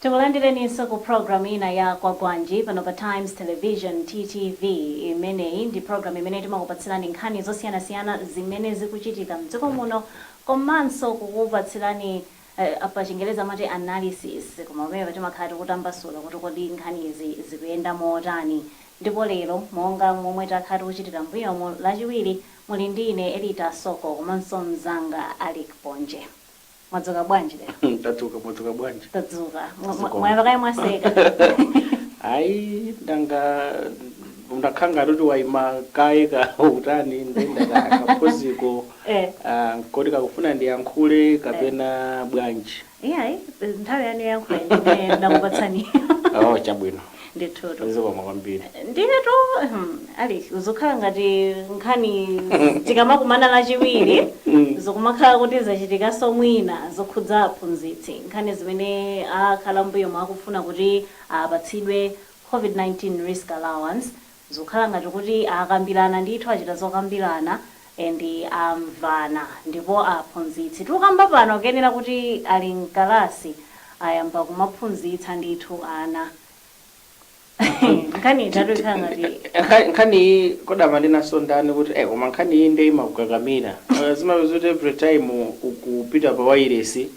Tikulandileninso ku program ina ya Kwagwanji pano pa Times Television, TTV. Imeneyi ndi program imene timakupatsirani nkhani zosiyanasiyana zimene zikuchitika mdziko muno komanso kukupatsirani pa chingerezi amati analysis koma pamenepa timakhala tikutambasula kuti kodi nkhanizi zikuyenda motani ndipo lero monga momwe takhala tikuchitira mmbuyomu lachiwiri muli ndi ine Elita Soko komanso mzanga Alick Ponje. Mwadzuka bwanji lero? Tadzuka, mwadzuka bwanji? Tadzuka. Mwa- Zikomo. Mwayamba kaye mwaseka. Ayi, ndangokhala ngati kuti waima kaye ka utani nde nda ka ka pause ko Eh. ah, kodi ukufuna ndiyankhule kapena bwanji? Iyayi, nthawi yanu yoyankhula ine ndakupatsani. Oh, chabwino. ndithutu zikomo kwambiri ndiyetu hmm, Alick zikukhala ngati nkhani tikamakumana lachiwiri zikumakhala kuti zachitikanso mwina zokhudza aphunzitsi nkhani zimene akhala mbuyomu akufuna kuti apatsidwe covid-19 risk allowance Zikukhala ngati kuti akambirana ndithu achita zokambirana and amvana ndipo aphunzitsi tikukamba pano kuyenera kuti ali mkalasi ayamba kumaphunzitsa ndithu ana. Nkhani ijatu ikukhala ngati. Nkhani iyi kodi amanenanso ndani kuti eh koma nkhani iyi nde imakukakamira. Zimapezeka kuti every time ukupita pa wailesi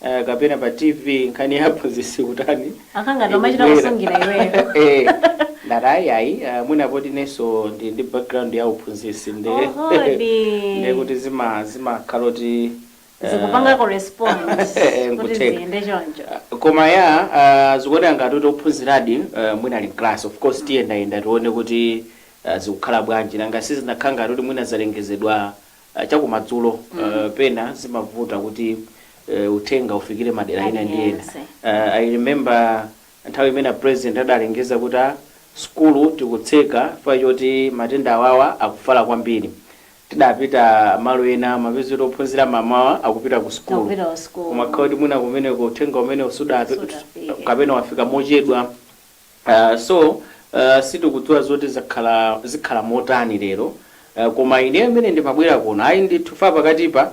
eh, kapena pa tv nkhani ya aphunzitsi kutani Imakhala ngati imachita ikubwera. kusungira iweyo. Eh, ndati ayi ayi eh, mwina poti inenso ndi ndi background ya uphunzitsi nde Ohodi. nde kuti zima zimakhala kuti eh, zikupanga correspond eh, kuti nkutheka. ziyende choncho koma ya uh, zikuoneka ngati kuti ophunziradi uh, mwina ali mclass of course tiyendayenda tione kuti uh, zikukhala bwanji nanga sizinakhala ngati kuti mwina zalengezedwa chakumadzulo pena zimavuta kuti uthenga ufikire madera ena ndi ena. I remember nthawi imene a president adalengeza kuti ah sukulu tikutseka chifukwa choti matenda awawa akufala kwambiri. Tidapita malo ena timapeza kuti ophunzira mamawa akupita ku sukulu koma kukhala kuti mwina kumeneko uthenga umenewo sudafike kapena wafika mochedwa. So sitikudziwa zoti zakhala zikhala motani lero koma ineyo mmene ndimabwera kuno ayi ndithu chifukwa pakatipa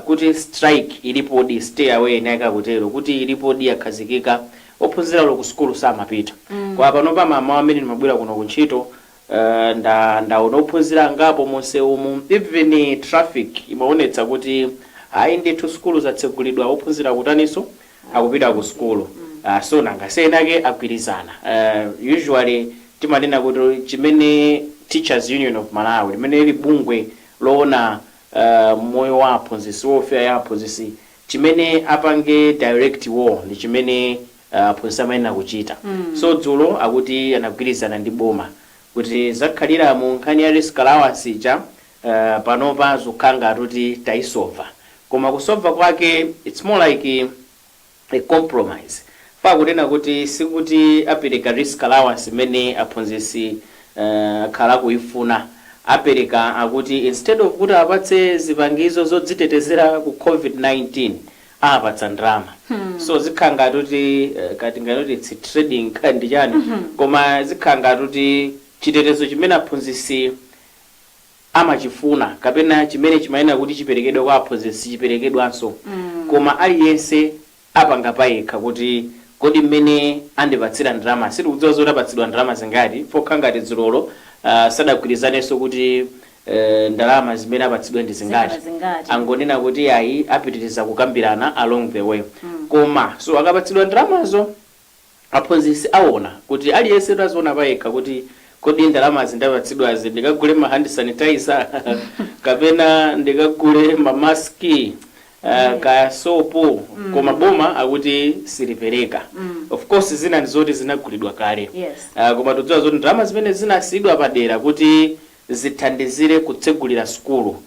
kuti strike ilipodi stay away eni ake akutero kuti ilipodi yakhazikika ophunzira olo ku sukulu samapita koma panopa mamawa mmene ndimabwera kuno ku ntchito nda ndaona ophunzira angapo munsewumu even traffic imaonetsa kuti ayi ndithu sukulu zatsegulidwa ophunzira akutaninso akupita ku sukulu uh, so nanga si enaake agwirizana uh, usually timanena kuti chimene teachers union of malawi limene lili bungwe loona uh, moyo wa aphunzitsi welfare ya aphunzitsi chimene apange direct war ndi chimene uh, aphunzitsi amayenera kuchita so dzulo akuti anagwirizana ndi boma kuti zakhalira mu nkhani ya risk allowance ija Aaa panopa zukhala ngati kuti tayisova koma kusova kwake its more like a compromise fa akunena kuti sikuti apeleka risk allowance imene aphunzisi aah akhala akuyifuna apeleka akuti instead of kuti apatse zipangizo zodzitetezera ku covid 19 apatsa ndalama so zikhala ngati kuti kaya tinganene kuti its trading kaya ndichani koma zikhala ngati kuti chitetezo chimene aphunzisi amachifuna kapena chimene chimayenera kuti chiperekedwe kwa aphunzitsi sichiperekedwanso, koma aliyense apanga payekha kuti kodi mmene andipatsira ndalama, sitikudziwa zoti apatsidwa ndalama zingati, fa kha ngati dzulolo sadagwirizanenso kuti ndalama zimene apatsidwe ndi zingati, angonena kuti iyayi apitiriza kukambirana along the way koma so akapatsidwa ndalamazo. Aphunzitsi awona kuti aliyensetu aziona payekha kuti kodi ndalamazi ndapatsidwazi ndikagule ma hand sanitizer kapena ndikagule ma mask kaya sopo koma boma akuti silipereka of course zina ndizoti zinagulidwa kale koma tikudziwa zoti ndalama zimene zinasiyidwa padera kuti zithandizire kutsegulira sukulu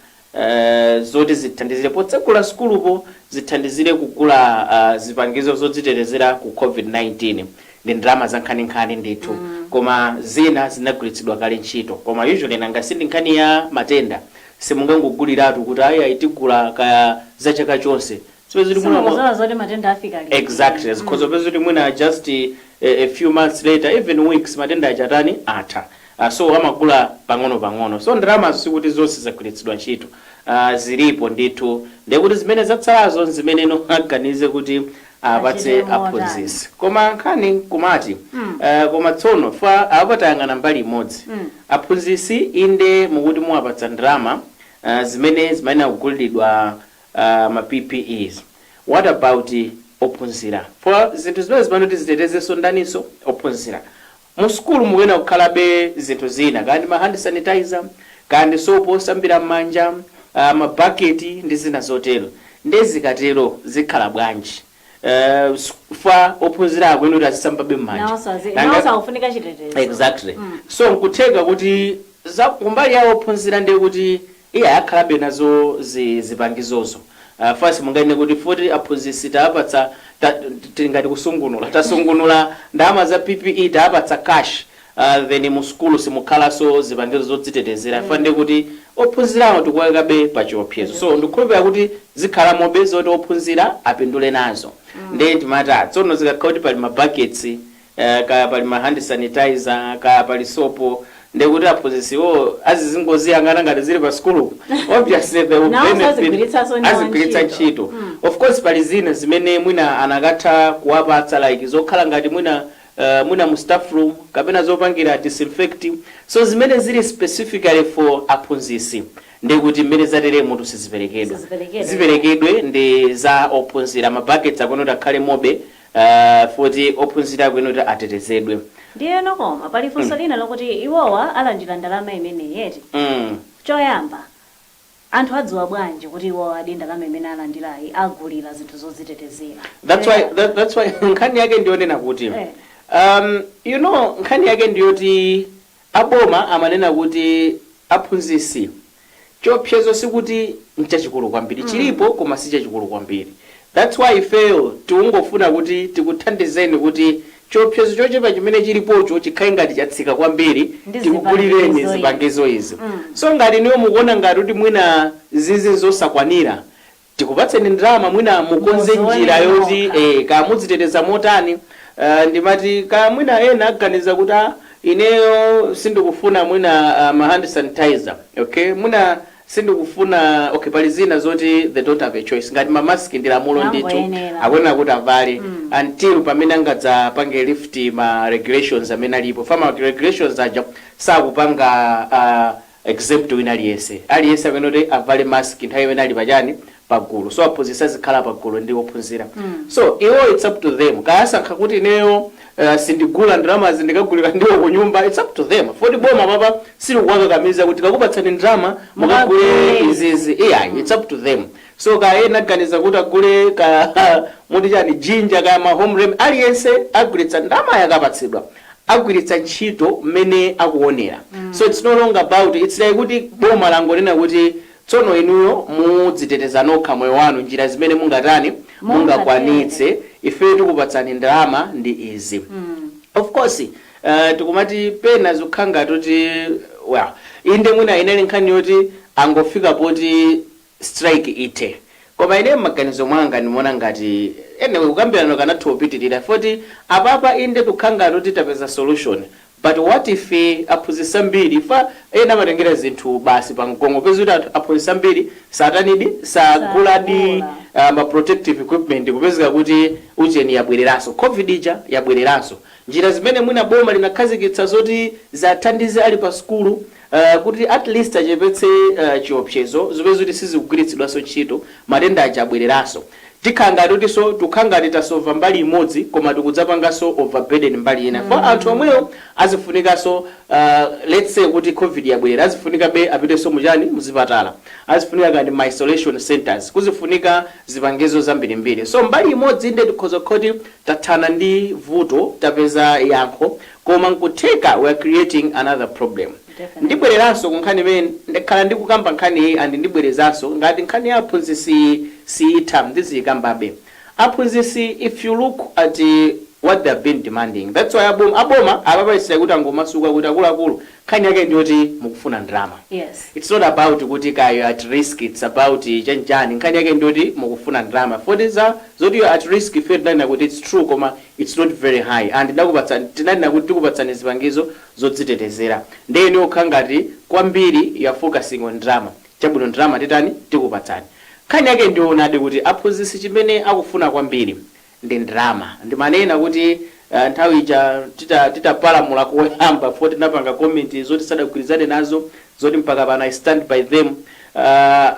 zoti zithandizire potsegula sukulupo zithandizire kugula zipangizo zodzitetezera ku Covid-19 ndi ndalama zankhaninkhani ndithu koma zina zinagwiritsidwa kale ntchito koma usually nanga si ndi nkhani ya matenda simungangoguliratu kuti ayi ayi tigula kaya za chaka chonse Zipezeka kuti mwina- simukuziwa zoti matenda afika pati exactly zikhoza kupeza kuti mwina just eh, a few months later even weeks matenda achatani atha uh, so amagula pang'ono pang'ono so ndalamazo sikuti zonse zagwiritsidwa ntchito uh, zilipo ndithu ndekuti zimene zatsalazo nzimene no aganize kuti apatse Achite motani. aphunzitsi koma nkhani kumati mm. uh, koma tsono fa apatayang'ana mbali imodzi mm. aphunzitsi inde mukuti muwapatsa ndalama uh, zimene zimayenera kugulidwa Aaa ma ppes what about ophunzira? Fa zinthu zimenezi zimayenera kuti zitetezenso ndaninso? Ophunzira. Mu sukulu mukuyenera kukhalabe zinthu zina kaya ndi ma hand sanitizer, kaya ndi sopo wosambira m'manja, aah ma bucket ndi zina zotero. Ndiye zikatero zikhala bwanji? Eeh chifukwa ophunzira akuyenera kuti azisambabe m'manja. Nawonso azi, Nanga nawonso akufunika chitetezo. Exactly. Mm. So nkutheka kuti kumbali ya ophunzira ndiye kuti Iye ayakhalabe nazo zi zipangizozo faz munganene kuti futi aphunzitsi taapatsa titi ngati kusungunula tasungunula ndalama za PPE taapatsa cash a then mu sukulu simukhalanso zipangizo zodzitetezera chifukwa ndiye kuti ophunzirawo tikuwaikabe pa chiopsezo so ndikukhulupirira kuti zikhalamobe zoti ophunzira apindule nazo ndiye timati a tsono zikakhala kuti pali ma buckets eeh kaya pali ma hand sanitizer kaya pali soap ndekuti aphunzitsiwo azizingoziyang'ana ngati zili pa sukulupo obviously they will benefit azigwiritsanso ndi azigwiritsa ntchito. Mm. of course pali zina zimene mwina anakatha kuwapatsa like zokhala ngati mwina eh, mwina mu staff room kapena zopangira disinfect so zimene zili specifically for aphunzitsi ndekuti mmene zateremutu siziperekedwa ziperekedwe ndi za ophunzira ma buckets akuyenera kuti akhale mobe Aaa futi ophunzira akuyenera atetezedwe. Ndiyeno koma pali funso mm. lina lokuti iwowa alandila ndalama imeneyi eti? mm. choyamba anthu adziwa bwanji kuti iwowa zedi ndalama imene alandilayi agulila zinthu zodzitetezera? that's why nkhani yake ndiyonena kuti eh. um, you know nkhani yake ndiyoti aboma amanena kuti aphunzitsi Chiopsezo sikuti nchachikulu kwambiri, chilipo koma sichachikulu kwambiri that's why ifeyo tikungofuna kuti tikuthandizeni kuti chiopsezo chochepa chimene chilipocho chikhale ngati chatsika kwambiri tikugulireni zipangizo izi. So ngati inuyo mukuona ngati kuti mwina izizi nzosakwanira, tikupatseni ndalama mwina mukonze njira yoti ee kaya mudziteteza motani aah ndimati kaya mwina ena aganiza kuti aah ineyo sindikufuna mwina ma hand sanitizer okay mwina sindikufuna okay pali zina zoti they don't have a choice ngati ma mask ndi lamulo ndithu akuyenera kuti avale until pamene angadzapange lift ma regulations amene alipo fama regulations aja sakupanga aah exempt wina aliyense. Aliyense akuyenera kuti avale mask nthawi imene ali pa chani? Pa gulu. So aphunzitsi azikhala pa gulu ndi ophunzira. So iwo it's up to them. Kaya asankha kuti ineyo Uh, sindigula ndalamazi ndikagulira ndiwo kunyumba it's up to them foti boma papa silikuwakakamiza kuti tikakupatsani ndalama mukagule izizi yeah it's up to them so kaya ena aganiza kuti agule ka muti chani ginger kaya ma home rem aliyense agwiritsa ndalamayo akapatsidwa agwiritsa ntchito mmene akuonera so its no longer about its like kuti boma langonena kuti tsono inuyo mudziteteza nokha moyo wanu njira zimene mungatani mungakwanitse ifeyo tikupatsani ndalama ndi izi of course uh, tikumati pena zikukhala ngati kuti well inde mwina inali nkhani yoti angofika poti strike ithe. Koma ineyo mmaganizo mwanga ndimaona ngati anyway kukambilana kukanatha kupitilira foti apapa inde tukhala ngati kuti tapeza solution but what if aphunzitsi ambiri chifukwa ena amatengera zinthu basi pa mgong'o upeze kuti anthu aphunzitsi ambiri satanidi saguladi. Sagula ah, ma protective equipment kupezeka kuti ujeni yabwereranso covid ija yabwereranso. Njira zimene mwina boma linakhazikitsa zoti ziathandize ali pa sukulu kuti at least achepetse chiopsezo upeze kuti sizikugwiritsidwanso ntchito, matenda aja abwereranso. Tikhala ngati kutinso tikhala ngati tasova mbali imodzi koma tikudzapanganso overburden mbali ina chifukwa anthu omwewo azifunikanso lets say kuti Covid yabwerera azifunikabe apitenso mu chani? Mu zipatala. Azifunika kaya ndi ma isolation centres. Kuzifunika zipangizo zambirimbiri. So mbali imodzi inde tikhoza kukhala kuti tathana ndi vuto, tapeza yankho, Koma nkutheka we're creating another problem. Definitely. Ndibwereranso ku nkhani imene ndakhala ndikukamba nkhaniyi and ndibwerezanso ngati nkhani ya aphunzitsiyi siitha ndiziikambabe. Aphunzitsi if you look at what they have been demanding that's why aboma aboma apapa its like kuti angomasuka kuti akuluakulu nkhani yake njoti mukufuna ndalama Yes. its not about kuti kaya you're at risk its about chani chani nkhani yake njoti mukufuna ndalama foti za zoti you're at risk ifeyo tinanena kuti its true koma It's not very high and tidakupatsani tinanena kuti tikupatsani zipangizo zodzitetezera nde inuyo mukukhala ngati kwambiri you are focusing on ndrama chabwino ndrama titani tikupatsani nkhani yake ndiyoonadi kuti aphunzitsi chimene akufuna kwambiri ndi ndrama ndimanena kuti nthawi ija tita titapalamula koyamba foti tinapanga comment zoti sadagwirizane nazo zoti mpaka pano I stand by them uh,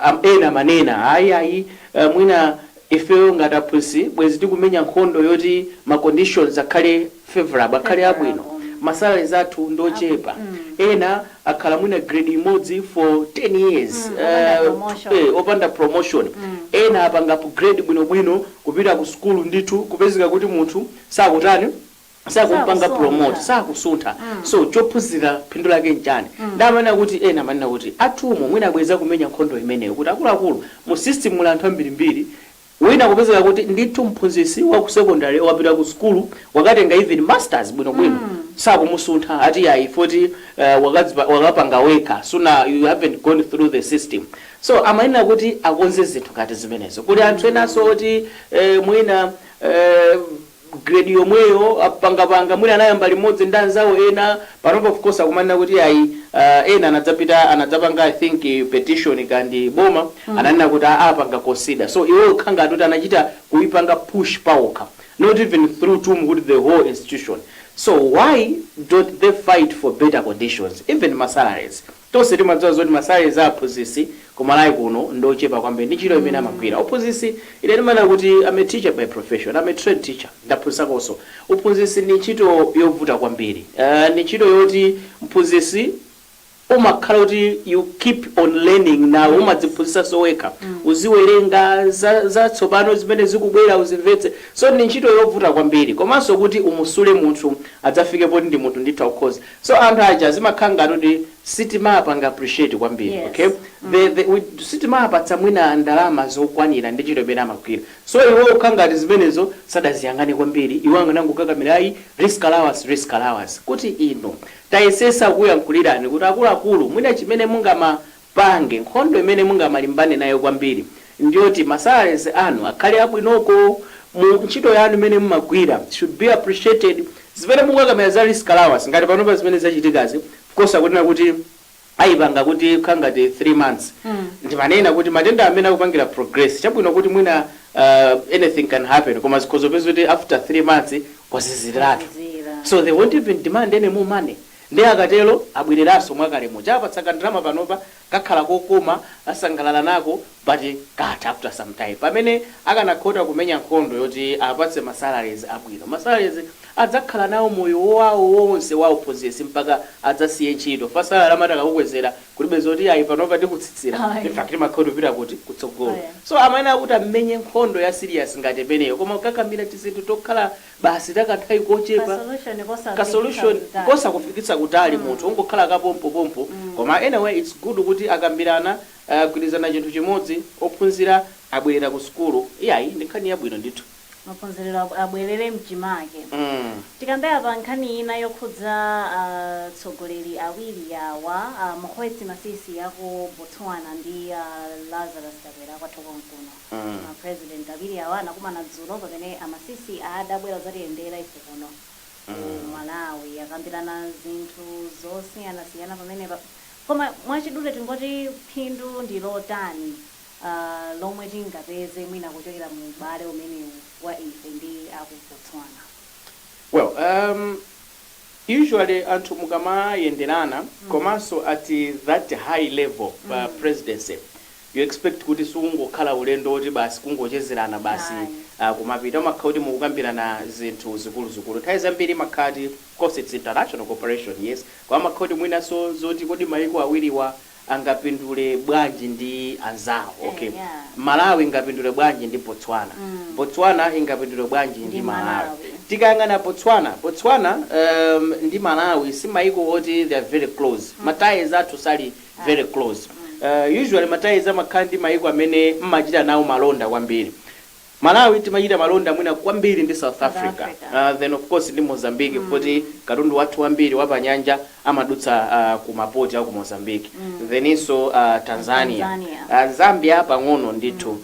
am- ena amanena ayi ayi uh, mwina Ifeyo ngati aphunzitsi bwezi tikumenya nkhondo yoti ma conditions akhale favourable, akhale abwino. Ma salaries athu ndiochepa, ena akhala mwina grade imodzi for 10 years opanda promotion, ena apanga upgrade bwinobwino kupita ku sukulu ndithu kupezeka kuti munthu sakutani, sakumpanga promote sakusuntha so chophunzira phindu lake nchani nde amanena kuti ena amanena kuti a TUM mwina bwezi akumenya nkhondo imeneyo kuti akuluakulu mu system muli anthu ambirimbiri wina kupezeka kuti ndithu mphunzitsi wa ku secondary wapita ku sukulu wakatenga even masters bwinobwino sakumusuntha ati yayi foti uh, wakadzipa- wakapanga wekha suna you haven't gone through the system so amanena kuti akonze zinthu ngati zimenezo kuli anthu enanso oti eh, mwina eh, grade yomweyo akupangapanga mwina anayamba limodzi ndi anzawo ena panopa of course akumanena kuti ayi ena anadzapita anadzapanga i think petition kaya ndi boma ananena kuti aa apanga consider so iwo okha ngati kuti anachita kuipanga push paokha not even through TUM kuti the whole institution so why don't they fight for better conditions even ma salaries Tonse timadziwa zoti ma salaries a aphunzitsi ku Malawi kuno ndi ochepa kwambiri ndi ntchito imene amagwira. Uphunzitsi, ine ndimanena kuti am a teacher by profession, am a trained teacher, ndaphunzitsakonso. Uphunzitsi ndi ntchito yovuta kwambiri. Ndi ntchito yoti mphunzitsi umakhala kuti you keep on learning nawe umadziphunzitsanso wekha, uziwerenga za zatsopano zimene zikubwera uzimvetse. So ndi ntchito yovuta kwambiri. Komanso kuti umusule munthu adzafike poti ndi munthu ndithu akukhoza. So anthu aja zimakhala ngati kuti sitimawapanga appreciate kwambiri Yes. okay the the we sitimawapatsa mwina ndalama zokwanira ndi ntchito imene amagwira so iwo kukhala ngati zimenezo sadaziyang'ane kwambiri iwo anganangokakamira ayi risk allowance risk allowance kuti inu tayesetsa kukuyankhulirani kuti akuluakulu mwina chimene mungama pange. Nkhondo imene mungamalimbane nayo kwambiri ndiyoti ma salaries anu akhale abwinoko ntchito yanu imene mumagwira should be appreciated. Zimene mukukakamira za risk allowance ngati panopa zimene zachitikazi of course akunena kuti ayipanga kuti kukhala ngati 3 months ndi mmene kuti matenda amene akupangira progress chabwino kuti mwina anything can happen koma zikhoza kupeza kuti after 3 months kwazizirratu so they won't even demand any more money. Nde akatero abwereranso mwakale muja awapatsa ka ndalama panopa kakhala kokoma asangalala nako but katha after some time pamene akanakhoza kumenya nkhondo yoti awapatse ma salaries abwino ma salaries adzakhala nawo moyo wawo wonse wa uphunzitsi mpaka adzasiye ntchito chifukwa salary amati akakukwezera kulibe zoti ayi panopa tikutsitsira Ayi. infact imakhala ikupita kuti kutsogolo Ayi. so amayenera kuti amenye nkhondo ya serious ngati imeneyo koma kukakamira tizinthu tokhala basi ta kanthawi kochepa, ka solution kosakufikitsa kutali munthu, ungokhala ka pompo pompo, koma anyway it's good kuti akambirana, agwirizana chinthu chimodzi, ophunzira abwerera ku sukulu, iyayi ndi nkhani yabwino ndithu. maphunziro abwerere mchimake. Tikambe apa nkhani ina yokhudza a tsogoleri awiri awa, a Mokgweetsi Masisi aku Botswana ndi a Lazarus Chakwera akwathu konkuno. Ma president awiri awa anakumana dzulo pamene a Masisi adabwera kudzatiyendera ife kuno ku Malawi. Akambirana zinthu zosiyanasiyana pamenepa. Koma mwachidule tingoti phindu ndi lotani lomwe tingapeze mwina kuchokera mu ubale umenewu wa ife ndi a ku Botswana? Well, usually anthu mukamayenderana komanso at that high level pa presidency, you expect kuti sukungokhala ulendo woti basi kungochezerana basi Ayi. ah, kumapita umakhala kuti mukukambirana zinthu zikuluzikulu nthawi zambiri imakhala ati of course its international cooperation yes koma amakhala kuti mwinanso zoti kodi maiko awiriwa angapindule bwanji ndi anzawo Eh, okay yeah. malawi ingapindule bwanji ndi botswana Mm. botswana ingapindule bwanji ndi, Ndi malawi Malawi. tikayang'ana botswana botswana um, ndi malawi si maiko oti they are very close mm. mataizi athu sali very close usually ma ties amakhala ndi maiko amene mmachita nawo malonda kwambiri Malawi timachita malonda mwina kwambiri ndi South Africa then of course ndi Mozambique poti katundu wathu wambiri wapanyanja amadutsa ku ma port aku Mozambique theninso Tanzania Zambia pang'ono ndithu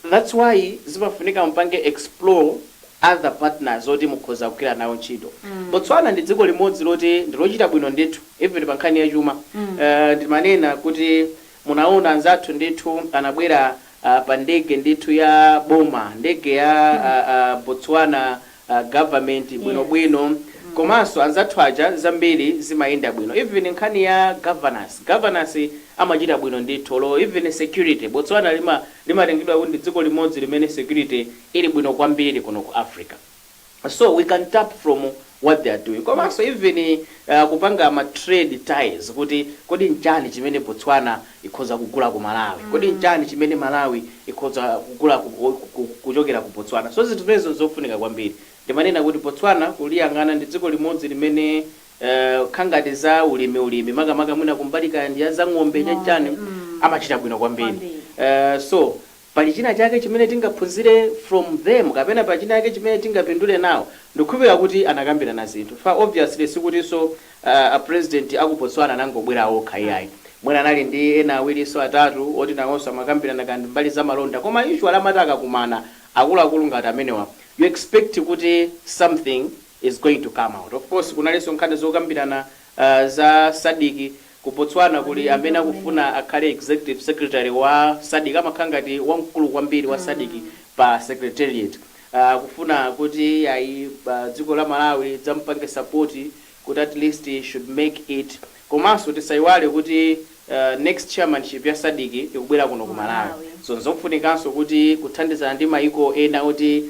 That's why zimafunika mupange explore other partners oti mukhoza kugwira nawo ntchito. Botswana ndi dziko limodzi loti ndilochita bwino ndithu even pa nkhani ya chuma. Ndimanena kuti munaona anzathu ndithu anabwera pa ndege ndithu ya boma, ndege ya Botswana a government bwino Yes. bwino Mm. komanso anzathu aja zambiri zimayenda bwino even nkhani ya governance governance amachita bwino ndithu olo even security Botswana lima limatengedwa kuti ndi dziko limodzi limene security ili bwino kwambiri kuno ku Africa so we can tap from what they are doing komanso even uh, kupanga ma trade ties kuti kodi nchani chimene Botswana ikhoza kugula ku Malawi? Kodi nchani chimene Malawi ikhoza kugula ku, ku, kuchokera ku Botswana? So zinthu zimenezo nzofunika kwambiri. Ndimanena kuti Botswana kuliyang'ana ndi dziko limodzi limene eh, kukhala ngati za ulimi ulimi makamaka mwina kumbali kaya ndi ya za ng'ombe chani chani amachita bwino kwambiri. Kwambiri. Eh, so pali china chake chimene tingaphunzire from them kapena pali chinachake chimene tingapindule nawo ndikukhulupilira kuti anakambirana zinthu obviously sikutinso a president aku Botswana anangobwera okha iyayi mwina anali ndi ena awirinso atatu oti nawonso amakambirana kaya ndi mbali za malonda koma usually amati akakumana akuluakulu ngati amenewa you expect kuti something is going to come out of course kunalinso nkhani zokambirana za Sadc Ku Botswana kuli amene akufuna akhale Executive Secretary wa Sadc amakhala ngati wamkulu kwambiri wa Sadc pa Secretariat. Akufuna kuti iyayi dziko la Malawi lidzamupange support kuti at least should make it komanso tisayiwale kuti next chairmanship ya Sadc ikubwera kuno ku Malawi so nzofunikanso kuti kuthandizana ndi mayiko ena kuti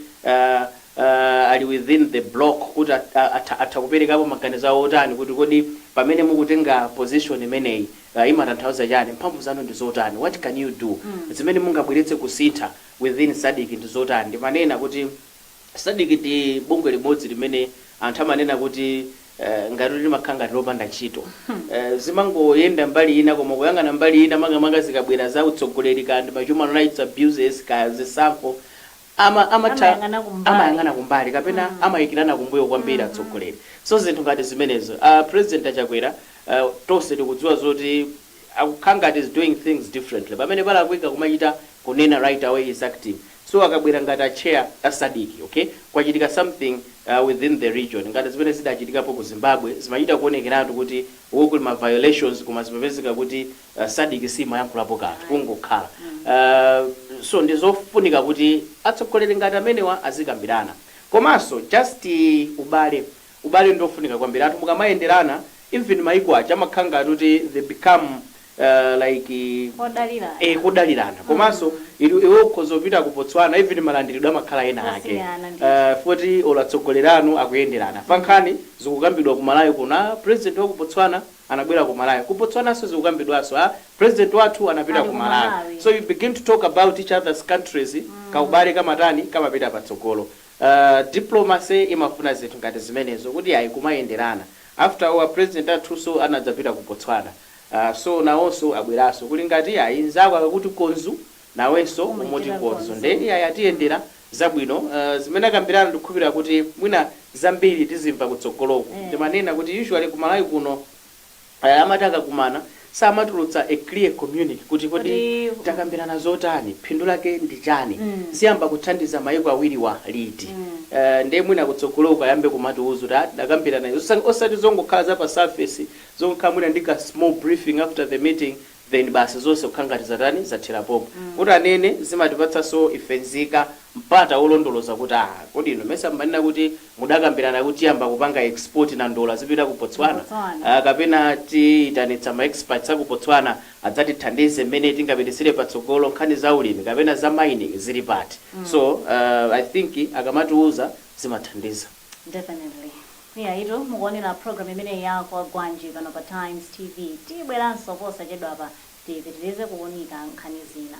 ali within the block kuti atha kuperekapo maganizo awo otani kuti kodi pamene mukutenga position imeneyi imatanthauza chani, mphamvu zanu ndi zotani, what can you do, zimene mungabweretse kusintha within Sadc ndi zotani, ndimanena kuti Sadc ndi bungwe limodzi limene anthu amanena kuti ngati kuti limakhala ngati lopanda ntchito, zimangoyenda mbali ina koma kuyang'ana mbali ina makamaka zikabwera za utsogoleri kaya ndi ma human rights abuses kaya zisankho amayang'ana kumbali kapena amayikirana kumbuyo kwambiri atsogoleri so zinthu ngati zimenezo president a Chakwera uh, tonse tikudziwa zoti akukhala ngati he's doing things differently pamene palakwika kumachita kunena right away he's acting so akabwera ngati a chair a Sadc okay kwachitika something uh, within the region ngati zimene zidachitikapo ku Zimbabwe zimachita kuonekeratu kuti uku kuli ma violations koma zimapezeka kuti Sadc simayankhulapo kanthu kungokhala so ndizofunika kuti atsogoleri ngati amenewa azikambirana komanso just ubale ubale ndiofunika kwambiri anthu mukamayenderana even maiko aja amakhala ngati kuti they become like kodalirana komanso iwe ukhoza kupita ku Botswana even malandiridwe amakhala ena ake chifukwa choti olo atsogoleri anu akuyenderana pa nkhani zikukambidwa ku Malawi kuno a president wa ku Botswana anabwera ku Malawi. Ku Botswananso zikukambidwanso, a President wathu anapita ku Malawi. So you begin to talk about each other's countries, kaubale kamatani, kamapita patsogolo. Diplomacy imafuna zinthu ngati zimenezo kuti ayi kumayenderana. After all a President athunso anadzapita ku Botswana. So nawonso abweranso kuli ngati ayi nzako akakuti konzu, nawenso umoti konzu nde iyayi atiyendera zabwino uh zimene akambirana ndikukhulupilira kuti mwina zambiri tizimva kutsogoloku ndimanena kuti usually ku Malawi kuno uh amati akakumana samatulutsa a clear communique kuti kodi takambirana zotani phindu lake ndi chani ziyamba kuthandiza maiko awiriwa liti uh nde mwina kutsogoloku ayambe kumatiuza kuti ah tidakambirana izi osati zongokhala za pa surface zongokhala mwina ndi ka small briefing after the meeting then basi zonse kukhala ngati zatani zathera pompo kuti anene zimatipatsanso ife nzika mpata wolondoloza kuti aah kodi inu mesa mumanena kuti mudakambirana kuti tiyamba kupanga export nandolo azipita ku Botswana aah kapena tiyitanitsa ma experts aku Botswana adzatithandize mmene tingapititsire patsogolo nkhani za ulimi kapena za mining zili pati so aah I think akamatiuza zimathandiza. Definitely. Iyayitu mukuonera program imeneyi ya Kwagwanji pano pa Times TV. Tibweranso posachedwapa tipitirize kuunika nkhani zina.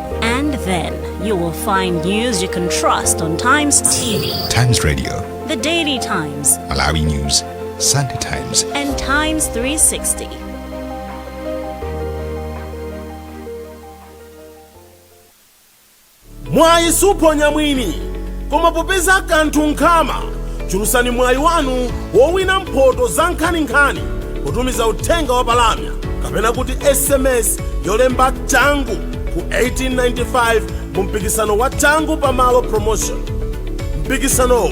And then you will find news you can trust on Times TV, Times Radio, The Daily Times, Malawi News, Sunday Times, and Times 360. mwayi suphonya mwini koma popeza kanthu nkhama chulutsani mwayi wanu wowina mphoto za nkhaninkhani potumiza uthenga wa palamya kapena kuti sms yolemba changu ku 1895 mu mpikisano wa changu pamalo promotion mpikisanowu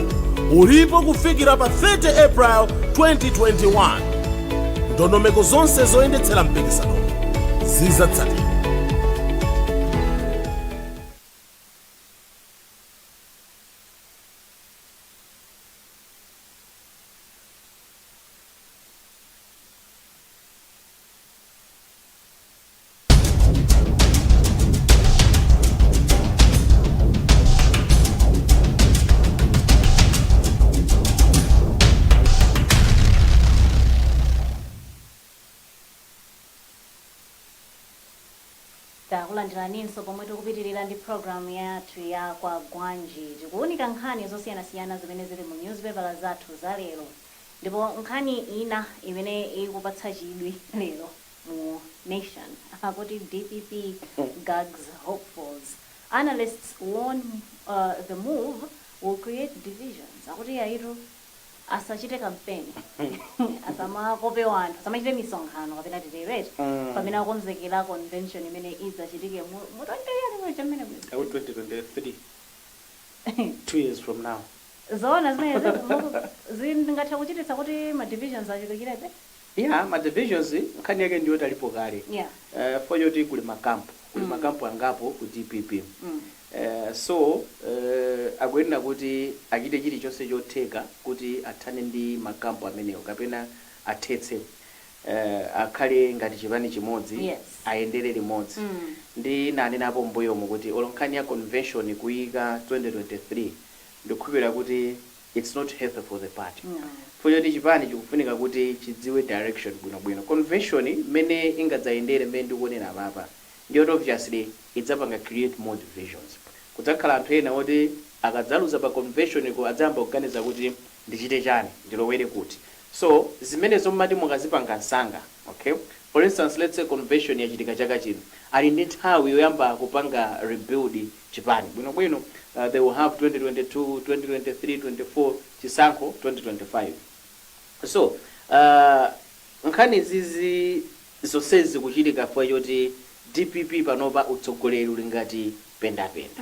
ulipo kufikira pa 30 april 2021 ndondomeko zonse zoyendetsera mpikisano zizatsatidwa Takulandiraninso pomwe tikupitilira ndi program yathu ya Kwagwanji. Tikuwunika nkhani zosiyanasiyana zimene zili mu newspaper zathu za lero. Ndipo nkhani ina imene ikupatsa chidwi lero mu nation akuti dpp gags hopefuls analysts warn the move will create divisions akuti iyayitu asachite kampeni asamakope anthu asamachite misonkhano kapena titero eti pamene akonzekera convention imene idzachitike mu mu 20 yani muli chamene muli 2023 two years from now zoona zimenezi zingathe kuchititsa kuti ma divisions achulukirebe Yeah ma divisions nkhani yake ndiyoti alipo kale yeah chifukwa choti kuli makampu kuli makampu angapo ku dpp eeh so eeh akuyenera kuti achite chilichonse chotheka kuti athane ndi makampu amenewo kapena athetse eeh akhale ngati chipani chimodzi yes ayendere limodzi ndinanenapo mmbuyomu kuti olo nkhani ya convention kuiyika 2023 ndikukhulupirira kuti its not healthy for the party chifukwa choti chipani chikufunika kuti chidziwe direction bwino bwino. Convention mmene ingadzayendere mmene ndikuonera apapa ndiyoti obviously idzapanga create more divisions. Kudzakhala anthu ena oti akadzaluza pa convention ko adzayamba kuganiza kuti ndichite chani? Ndilowere kuti? So zimenezo mumati mukazipanga msanga okay for instance lets say convention yachitika chaka chino ali ndi nthawi yoyamba kupanga rebuild. chipani bwinobwino uh, they will have 2022 2023 24 chisankho 2025 so uh, nkhani izizi zonsezi zikuchitika chifukwa choti dpp panopa utsogoleri uli ngati pendapenda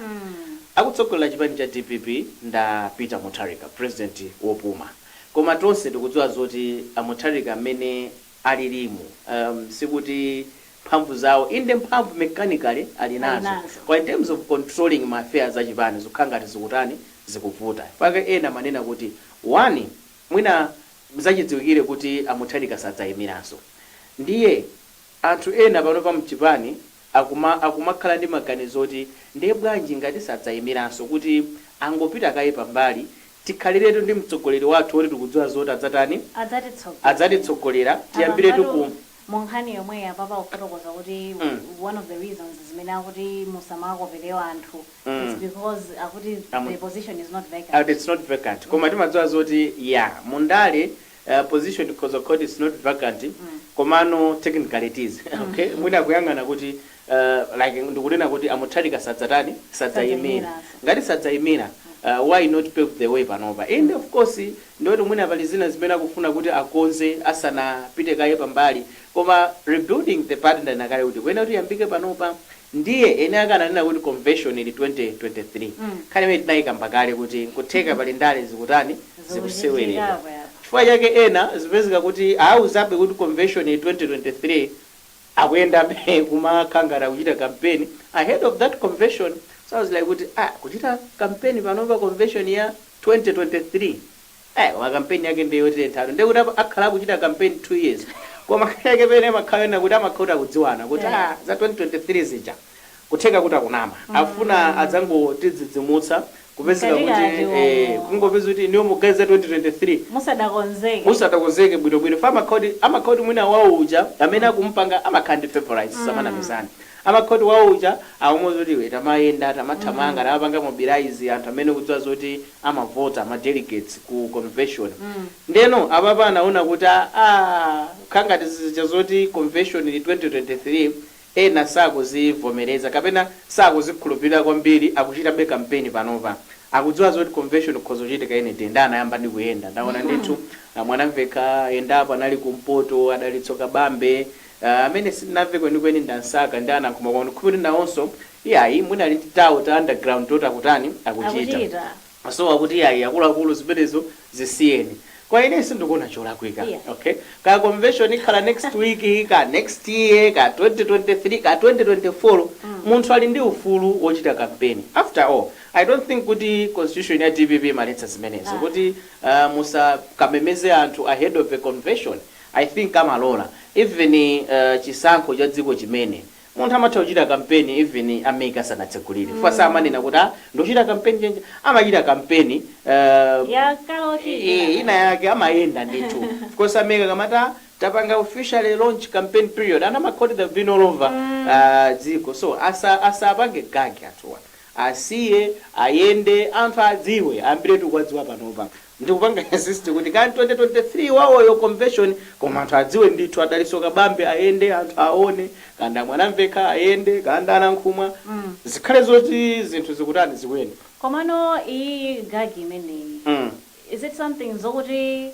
akutsogolera chipani cha dpp nda peter mutharika president wopuma koma tonse tikudziwa zoti a mutharika amene alilimo. Um, sikuti mphamvu zawo, inde mphamvu mechanically ali nazo. koma in terms of controlling ma affairs a chipani zikukhala ngati zikutani, zikuvuta. Chifukwa chake ena amanena kuti, one, mwina zachidziwikire kuti a Mutharika sadzayimiranso. Ndiye anthu ena panopa mchipani akumakhala ndi maganizo oti nde bwanji ngati sadzayimiranso kuti angopita kaye pambali tikhaliretu ndi mtsogoleri wathu oti tikudziwa zoti adzatani adzatitsogolera tiyambiretu ku nkhani yomweyi apapa akufotokoza kuti one of the reasons zimene akuti musamakopelewa anthu is because akuti the position is not vacant. it's not vacant koma timadziwa zoti ya mu ndale position of course its not vacant komano technically it is okay mwina akuyang'ana kuti like ndikunena kuti a Mutharika sadzatani sadzayimira ngati sadzayimira why not pave the way panopa inde of course ndioti mwina pali zina zimene akufuna kuti akonze asanapite kaye pambali koma rebuilding the party ndanena kale kuti ikuyenera kuti iyambike panopa Ndiye eni ake ananena kuti komveshoni ili 2023. Nkhani imeneyi tinayikamba kale kuti nkutheka pali ndale zikutani, zikuseweredwa. Chifukwa chake ena zikupezeka kuti awuzabe kuti komveshoni ili 2023 akuyendabe kumakhala ngati akuchita kampeni ahead of that komveshoni. So I was like kuti ah kuchita kampeni panopa komveshoni ya 2023. Eh koma campaign yake ndi yotenthatu ndiye kuti akhala akuchita campaign 2 years koma nkhani yake pena imakhala yonena kuti amakhala kuti akudziwana kuti ah za 2023 zija kutheka kuti akunama akufuna adzangotidzidzimutsa kupezeka kuti kungopeza kuti inuyo mukuganiza za 2023 musadakonzeke bwinobwino fa amakhala kuti mwina wawo uja amene akumupanga amakhala ndi favorites samanamizana amakhala kuti wawo uja akumuwuza kuti iwe tamayenda tamathamanga tamapanga mobilize anthu amene ukudziwa zoti amavota ma delegates ku convention ndeno apapa anaona kuti aah kukhala ngati zija zoti convention ili 2023 ena sakuzivomereza kapena sakuzikhulupirira kwambiri akuchitabe campaign panopa akudziwa zoti convention ikhoza kuchitika any day nde anayamba ndi kuyenda ndaona ndithu a Mwanamvekha ayendapo anali kumpoto a Dalitso Kabambe Ah, amene sitinamve kwenikweni ndi a Msaka ndi a Nankhumwa koma ndikukhulupira kuti nawonso iyayi mwina ali ndi tawo ta underground toti akutani akuchita. So akuti iyayi akuluakulu zimenezo zisiyeni. Koma ine sindikuona cholakwika. Okay? Kaya convention ikhala next week, kaya next year, kaya 2023, kaya 2024, munthu ali ndi ufulu wochita campaign. After all, I don't think kuti constitution ya DPP imaletsa zimenezo. Kuti ah, musakamemeze anthu ahead of a convention. I think amalola even chisankho cha dziko chimene munthu amatha kuchita kampeni even a MEC asanatsegulire chifukwa samanena kuti ah ndikuchita kampeni chonchi amachita kampeni ya kale yoti ina yake amayenda ndithu chifukwa a MEC akamati ah tapanga officially launch campaign period anthu amakhala kuti they've been all over ah, dziko so asa asapange gag anthuwa asiye ayende anthu adziwe ayambiretu kuwadziwa panopa Ndikupanga insist kuti kaya 2023 wawoyo convention koma anthu adziwe ndithu a Dalitso Kabambe ayende anthu awone kaya ndi a Mwanamvekha ayende kaya ndi a Nankhumwa zikhale zoti zinthu zikutani zikuyenda. Komano iyiyi gag imeneyi Mm. is it something zokuti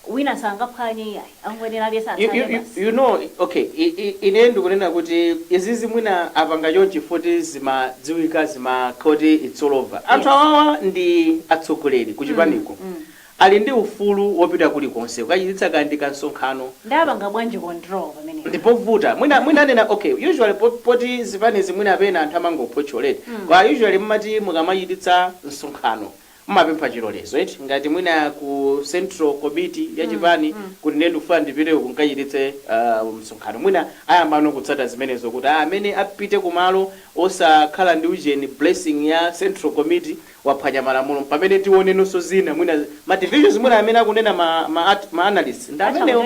Wina sangaphwanye iyayi, akungoyenera aliyense atsate basi. You know, okay, i, i, ine ndikunena kuti izizi mwina apanga chonchi foti zimadziwika zimakhala kuti it's all over. Anthu Yes. awawa ndi atsogoleri ku chipaniko. Mm, mm. Ali ndi ufulu wopita kulikonse kukachititsa kaya ndi kansonkhano. Nde apanga bwanji control pamenepa? Ndipovuta. Mwina, mwina anena, okay, usually po, poti zipanizi mwina pena anthu amangophotchola eti. Mm. Koma usually mumati mukamachititsa msonkhano, Mumapempha chilolezo eti? Ngati mwina ku central komiti ya chipani kuti ine ndikufuna ndipite uku nkachititse msonkhano mwina ayambano kutsata zimenezo kuti a amene apite ku malo osakhala ndi ujeni, blessing ya central komiti waphwanya malamulo mpamene tionenonso zina mwina ma divisions mwina amene akunena ma ma ma analyst ndi amenewo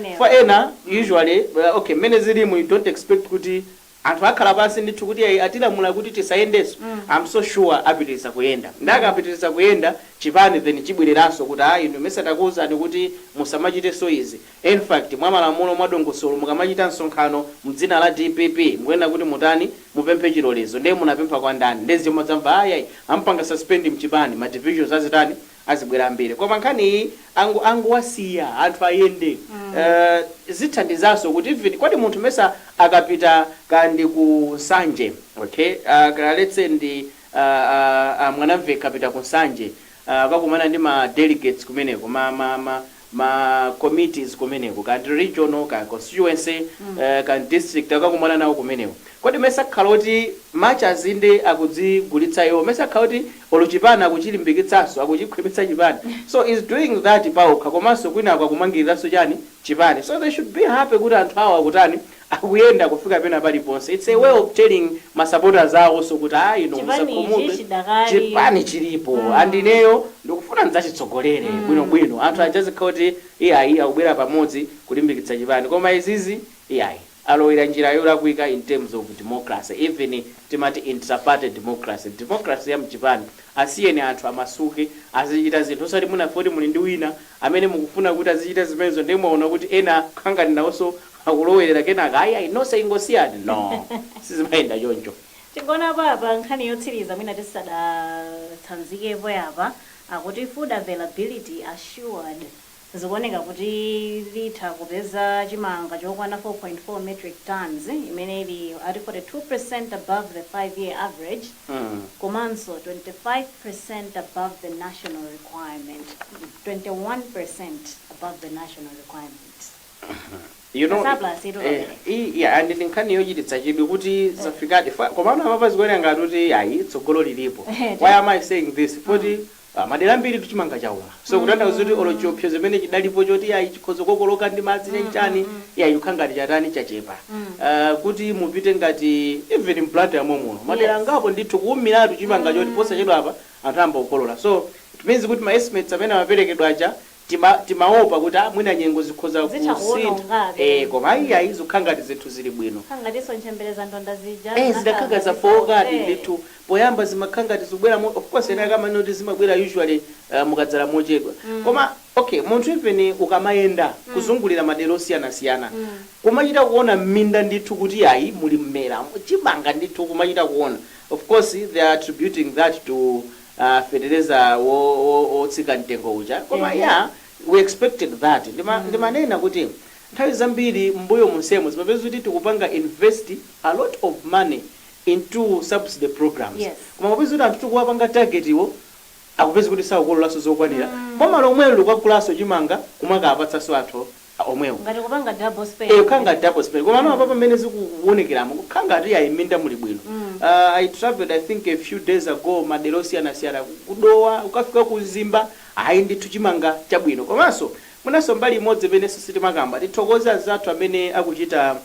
chifukwa ena usually okay mmene zilimu you don't expect kuti Anthu akhala pansi ndithu kuti ayi atilamula kuti tisayendenso I'm so sure apitiliza kuyenda nde akapitiliza kuyenda chipani then chibwereranso kuti aa inu mesa takuuzani kuti musamachitenso izi in fact mwa malamulo mwa dongosolo mukamachita msonkhano mdzina la DPP mukuyenera kuti mutani mupemphe chilolezo nde munapempha kwa ndani nde muzadzamva ayi ayi amupanga suspend mchipani ma divisions azitani azibwera ambiri koma nkhani iyi angu angowasiya anthu ayende uh, zithandizanso kuti even kodi munthu mesa akapita kaya ndi ku Nsanje okay uh, ka- let's say ndi uh, uh, uh, a Mwanamvekha akapita ku Nsanje uh, akakumana ndi ma delegates kumeneko ma, ma, ma, ma committees kumeneko kaya ndi regional kaya constituency kaya ndi district akakumana nawo kumeneko kodi mmene sakhala oti much as inde akudzigulitsa iwo mmene sakhala oti olo chipani akuchilimbikitsanso akuchikhwimitsa chipani so he's doing that paokha komanso kwinaku akumangiliranso chani chipani so they should be happy kuti anthu awo akutani akuyenda kufika pena paliponse its a way of telling ma supporters awoso kuti ayi inu musakhumudwe chipani chilipo and ineyo ndikufuna ndidzachitsogolere bwino bwino anthu aja azikhala kuti iyayi akubwera pamodzi kulimbikitsa chipani koma izizi iyayi alowera njira yolakwika in terms of democracy even timati intraparty democracy democracy ya mchipani asiyeni anthu amasuke azichita zinthu osati mwina fukwa kuti muli ndi wina amene mukufuna kuti azichita zimenezo ndiye mwaona kuti ena akangani nawoso akulowerera kenaka ayi ayi nonse ingosiyani no sizimayenda choncho. Tingoonapo apa nkhani yotsiliza mwina tisadatsanzikepo yapa akuti food availability assured zikuoneka kuti litha kupeza chimanga chokwana 4.4 metric tonnes imene ili ati 42% above the five year average komanso 25% above the national requirement 21% above the national requirement. you know and ndi nkhani yochititsa chidwi kuti zafikadi komano apapa zikuoneka ngati kuti ayi tsogolo lilipo why am i saying this kuti madera ambiri chimanga chauma so kutanthauza kuti olo chiopsezo chimene chidalipo choti ayi chikhoza kukokoloka ndi madzi ndi chani ayi chikhala ngati chatani chachepa poti mupite ngati even m'Blantyre momuno madera angapo ndithu kuumiratu chimanga choti posachedwapa anthu ayamba kukolola so it means kuti ma estimates amene amaperekedwa aja Tima timaopa kuti a mwina nyengo zikhoza Zitha kusintha kuwonongabe. ee koma ayi ayi zikukhala ngati zinthu zili bwino. Kukhala ngatinso ntchemberezandonda zija ee zinakhala zidakhala ngati zafookadi zonse. ndithu poyamba zimakhala ngati zikubweramo of course ena ake amanena kuti zimabwera usually uh, mukadzala mochedwa koma okay munthu even ukamayenda kuzungulira madera osiyanasiyana kumachita kuona m'minda ndithu kuti ayi muli mmeramo chimanga ndithu kumachita kuona of course they are attributing that to aah fetereza wo wo wotsika mtengo uja koma ehe yeah we expected that ndima mm. ndimanena kuti nthawi zambiri mmbuyo monsemu zimapeza kuti tikupanga invest a lot of money into subsidy programs yes koma kupeza kuti anthu tikuwapanga targetwo akupeza kuti sakukololanso zokwanira boma mm. lomwelo likukagulanso chimanga kumakawapatsanso anthu a omwewo. Ngati kupanga double spend. Eh kukhala ngati double spend. Komano apapa mmene zikuwonekeramu kukhala ngati iyayi mminda muli bwino. Ah I travelled I think a few days ago madera osiyanasiyana ku ku Dowa kukafika ku Mzimba ayi ndithu chimanga chabwino. Komanso mwinanso mbali imodzi imenenso sitimakamba tithokoze anzathu amene akuchita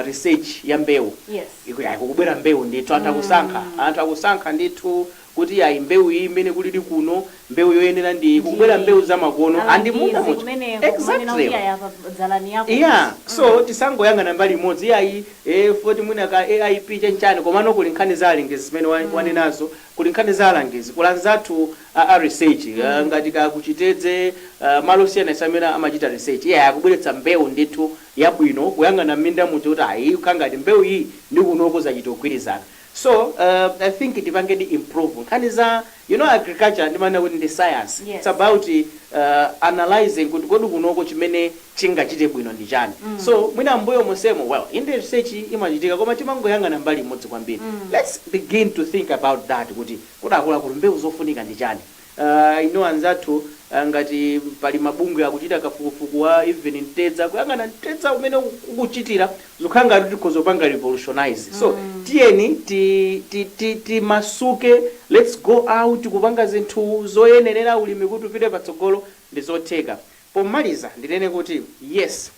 research ya mbewu Yes. ikuti ayi kukubwera mbewu ndithu anthu akusankha anthu akusankha ndithu kuti ayi mbewu iyi imene kulili kuno mbewu yoyenera ndi iyi kukubwera Ndi- mbewu zamakono and Alangizi muno muja kumeneko, kumanena kuti exactly aya pa dzalani yako. yeah so tisangoyang'ana mbali imodzi iyayi eh, zoti mwina ka aip chenchani komano kuli nkhani za alangizi zimene wa- wanenazo kuli nkhani za alangizi kuli anzathu a, a research ah, ngati a ku Chitedze ah, malo osiyanasiyana amene amachita research iyayi akubweretsa mbewu ndithu yabwino kuyang'ana m'mindamu kuti ayi ikukhala ngati mbewu iyi ndi kunoko zachita kugwirizana so uh, i think tipangedi improve nkhani za you know agriculture ndimanena kuti ndi science it's Yes. about uh, analyzing kuti kodi kunoko chimene chingachite bwino ndi chani so mwina mbuyo monsemo well inde research imachitika koma timangoyang'ana mbali imodzi kwambiri let's begin to think about that kuti kodi akuluakulu mbewu zofunika ndi chani Aaa I know anzathu a ngati pali mabungwe akuchita kafukufuku wa even mtedza kuyang'ana mtedza umene ukuchita zikukhala ngati kuti tikhoza kupanga revolutionize so tiyeni ti ti ti timasuke let's go out kupanga zinthu zoyenerera ulimi kuti upite patsogolo ndi zotheka. Pomaliza ndinene kuti yes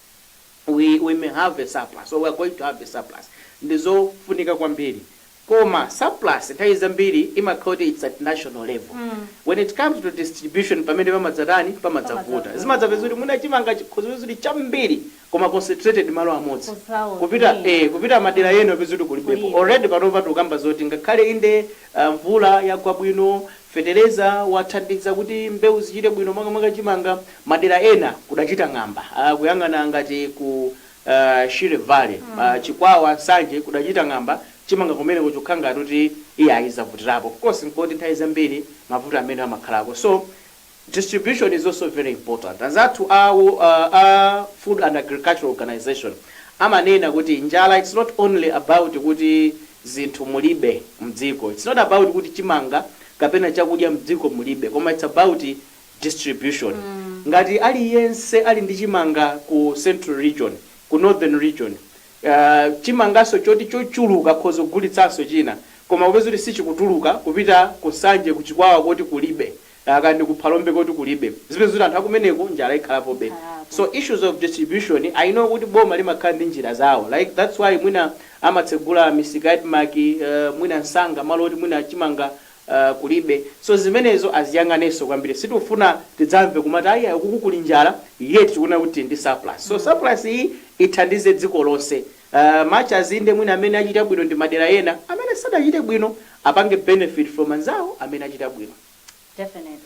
we we may have a surplus or we are going to have a surplus ndi zofunika kwambiri koma surplus nthawi zambiri imakhala kuti its at national level when it comes to distribution pamene pamadzatani pamadzavuta zimadzapeza kuti mwina chimanga chikhoza kupezeka kuti chambiri koma concentrated malo amodzi Kusauth, kupita eh, yeah. kupita madera Mm. ena upeza kuti kulibepo Kulibe. already panopa tikukamba zoti ngakhale inde ah, mvula yagwa bwino fetereza wathandiza kuti mbewu zichite bwino makamaka chimanga madera ena kudachita ng'amba Ah, kuyang'ana ngati ku Shire Valley, Chikwawa, Nsanje, kudachita ng'amba, chimanga kumeneko zikukhala ngati kuti iyayi zavutirapo. Of course n'koti nthawi zambiri mavuto amenewa amakhalako so distribution is also very important. Anzathu a a Food and Agricultural Organisation amanena kuti njala it's not only about kuti zinthu mulibe m'dziko, it's not about kuti chimanga kapena chakudya m'dziko mulibe koma it's about distribution ngati aliyense ali ndi chimanga ku central region ku northern region chimanganso choti chochuluka akhoza kugulitsanso china koma upeza kuti sichikutuluka kupita ku nsanje ku chikwawa koti kulibe kaya ndi ku phalombe koti kulibe zipeza kuti anthu akumeneko njala ikhalapobe so issues of distribution i know kuti boma limakhala ndi njira zawo like that's why mwina amatsegula misika ya admarc mwina msanga malo oti mwina chimanga uh kulibe so zimenezo aziyang'anenso kwambiri sitikufuna tidzamve kumati ayi ayi ukuku kuli njala yet tikunena kuti tili ndi surplus so surplus iyi ithandize dziko lonse uh much as inde mwina amene achita bwino ndi madera ena amene sadachite bwino apange benefit from anzawo amene achita bwino. Definitely.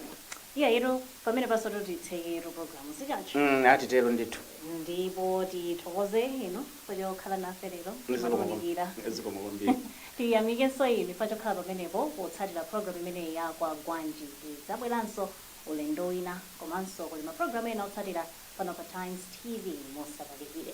Iyayitu pamenepansotu titsekeretu program, si choncho? Mm, atitero ndithu. Ndipo tithokoze inu. pochokhala nafe lero ndi potiunikira. Zikomo kwambiri. Tiyamikenso inu pachokhala pamenepo potsatira program imeneyi ya Kwagwanji. Tidzabweranso ulendo wina komanso kuli ma program ena otsatira pano pa Times TV. Musatalikire.